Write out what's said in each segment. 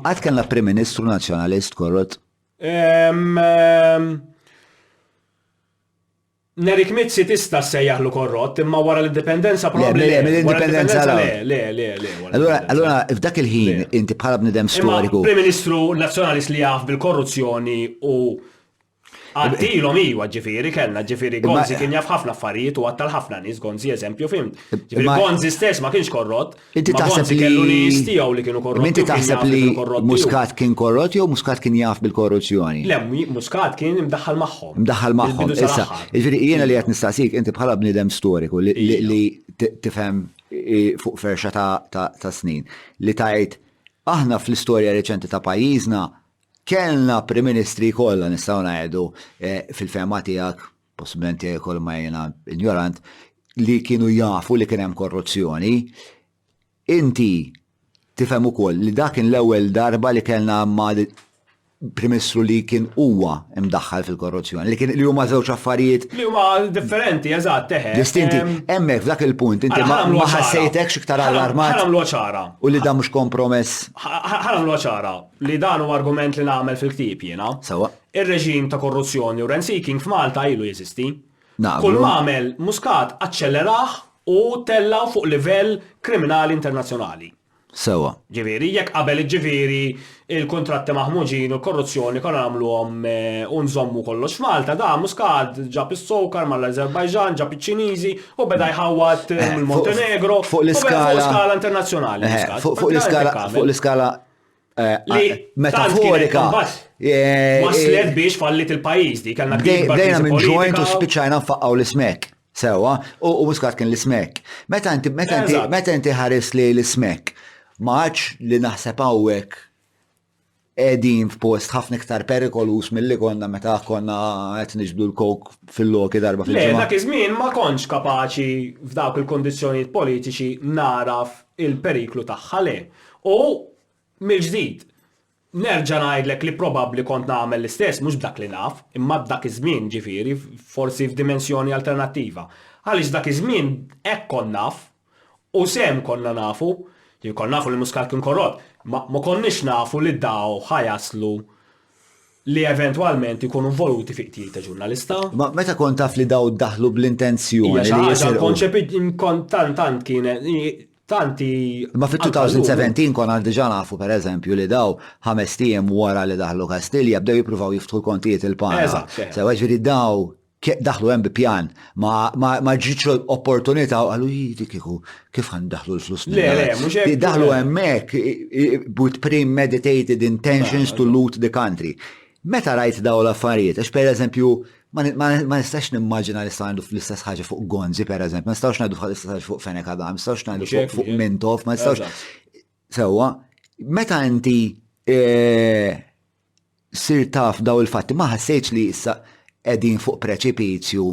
Qatt kellna Prim Ministru Nazzjonalist korrott? Nerik Mizzi tista' ssejjaħlu korrott, imma wara l-indipendenza probabbli. Le, mill-indipendenza le. Le, le, le. Allura, allura f'dak il-ħin inti bħala bnidem storiku. Prim Ministru Nazzjonalist li jaf bil-korruzzjoni u Għaddilhom iwa ġifieri kellna ġifieri Gonzi kien jaf ħafna affarijiet u għattal ħafna nies Gonzi eżempju fim. Ġifieri Gonzi stess ma kienx korrott. Inti taħseb li kellu nies tiegħu li kienu korrotti. Inti taħseb li Muscat kien korrott jew Muscat kien jaf bil-korruzzjoni? Le, Muscat kien imdaħħal magħhom. Imdaħħal magħhom. Issa, ġifieri jiena li qed nistaqsik inti bħala bniedem storiku li tifhem fuq ferxa ta' snin li tgħid aħna fl-istorja reċenti ta' pajjiżna Kellna Prim Ministri kollha nistgħu ngħidu fil-fehma tiegħek, possibilment jekk ma jiena injorant, li kienu jafu li kien hemm korruzzjoni. Inti tifhem ukoll li dak kien l-ewwel darba li kellna ma' Prim Ministru li kien huwa mdaħħal fil-korruzzjoni, li kien li huma żewġ affarijiet. Li huma differenti, eżatt, eħe. Distinti. Hemmhekk f'dak il-punt inti ma ħassejtekx iktar allarmat. Ħa nagħmluha ċara. U li dan mhux kompromess. Ħa nagħmluha ċara. li dan huwa argument li nagħmel fil-ktieb jiena. Sewwa. Ir-reġim ta' korruzzjoni u rent-seeking f'Malta ilu jeżisti. Naqblu. Kull m'għamel Muscat aċċellerah u tellgħu fuq livell kriminali internazzjonali. Sewwa. Ġifieri, jekk qabel jiġġifieri l-kuntratti maħmuġin u l-korruzzjoni konna nagħmluhom u nżommu kollox f'Malta, dan Muscat ġab is-sokar mal-Azerbajġan, ġab iċ-Ċiniżi u beda jħawwad mill-Montenegro. Fuq l-iskala. Fuq skala internazzjonali. Fuq l-iskala Eh, metaforika. Eh, Waslet eh, biex fallit il-pajis di, kellna Dejna minn ġojnt u spiċajna nfaqqaw l-ismek. Sewa, u muskat kien l-ismek. Meta inti, meta inti, meta inti ħares li l-ismek, maċ li naħseb għawek edin f'post ħafna iktar perikolus mill-li konna meta konna qed niġbdu l-kok fil-loki darba fil-ġimgħa. Le, dak iż-żmien ma kontx kapaċi f'dawk il-kondizzjonijiet politiċi naraf il-periklu tagħha le. U, mill-ġdid, nerġa' ngħidlek li probabbli kont nagħmel l-istess, mhux b'dak li naf, imma dak iż-żmien, ġifieri, forsi f'dimensjoni alternattiva. Għaliex dak iż-żmien hekk kont naf, u sehem konna nafu, konna nafu li Muscat kien korrott, imma ma konniex nafu li daw ħa jaslu li eventwalment ikunu involuti fi qtil ta' ġurnalista. Ma meta kont taf li daw daħlu bl-intenzjoni li jisirqu. Ija konċepit kont tant tant kienet tanti. Ma fit-2017 kon għal diġa nafu per eżempju li daw ħames tijem wara li daħlu Kastilja bdew jippruvaw jiftħu l-kontijiet il-pana. Sewa ġiri daw Daħlu hemm bi pjan, ma ġietx opportunità u qalu jidi kieku kif għan daħlu l-flus minn. Le, le, mhux hekk. Daħlu hemmhekk with premeditated intentions to loot the country. Meta rajt daw l-affarijiet, għax per eżempju, ma nistax nimmaġina li sta' għandu fl-istess ħaġa fuq Gonzi, per eżempju, ma nistax ngħidu fl-istess ħaġa fuq Fenek Adam, ma nistax ngħidu fuq Mintof, ma nistax. Sewa, meta inti eh, sirt taf dawn il-fatti ma ħassejtx li issa qegħdin fuq preċipizju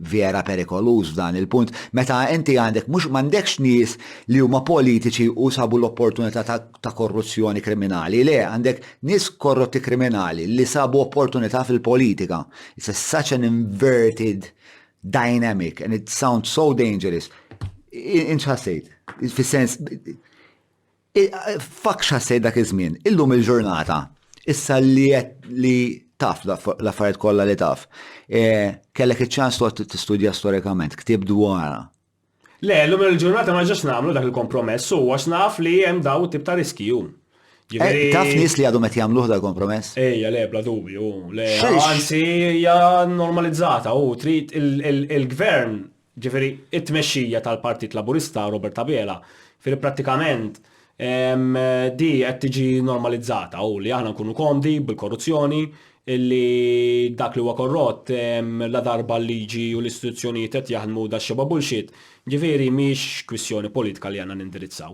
vera perikoluż f'dan il-punt meta inti għandek mhux m'għandekx nies li huma politiċi u sabu l-opportunità ta' ta' korruzzjoni kriminali, le, għandek nies korrotti kriminali li sabu opportunità fil-politika. It's a such an inverted dynamic and it sounds so dangerous. Inċħassejt, fis-sens Fakx ħassejt dak iż-żmien, illum il-ġurnata, issa li li taf l-affarijiet kollha li taf. E, kellek iċ-ċans toqgħod tistudja storikament, ktib dwarha. Le, illum il-ġurnata ma ġax nagħmlu dak il-kompromess u għax naf li hemm daw tip ta' riskju. Eh, taf nis li għadhom qed jagħmluh dal kompromess? Ejja, le, bla dubju, le. Anzi, hija normalizzata u trid il-gvern jiġifieri t-tmexxija tal-Partit Laburista, Robert Abela, jiġifieri prattikament di qed tiġi normalizzata u li aħna nkunu komdi bil-korruzzjoni, li dak li huwa korrott ladarba l-liġi u l-istituzzjonijiet qed jaħdmu daxxebgħa bullshit, jiġifieri mhix kwistjoni politika li għandna nindirizzaw.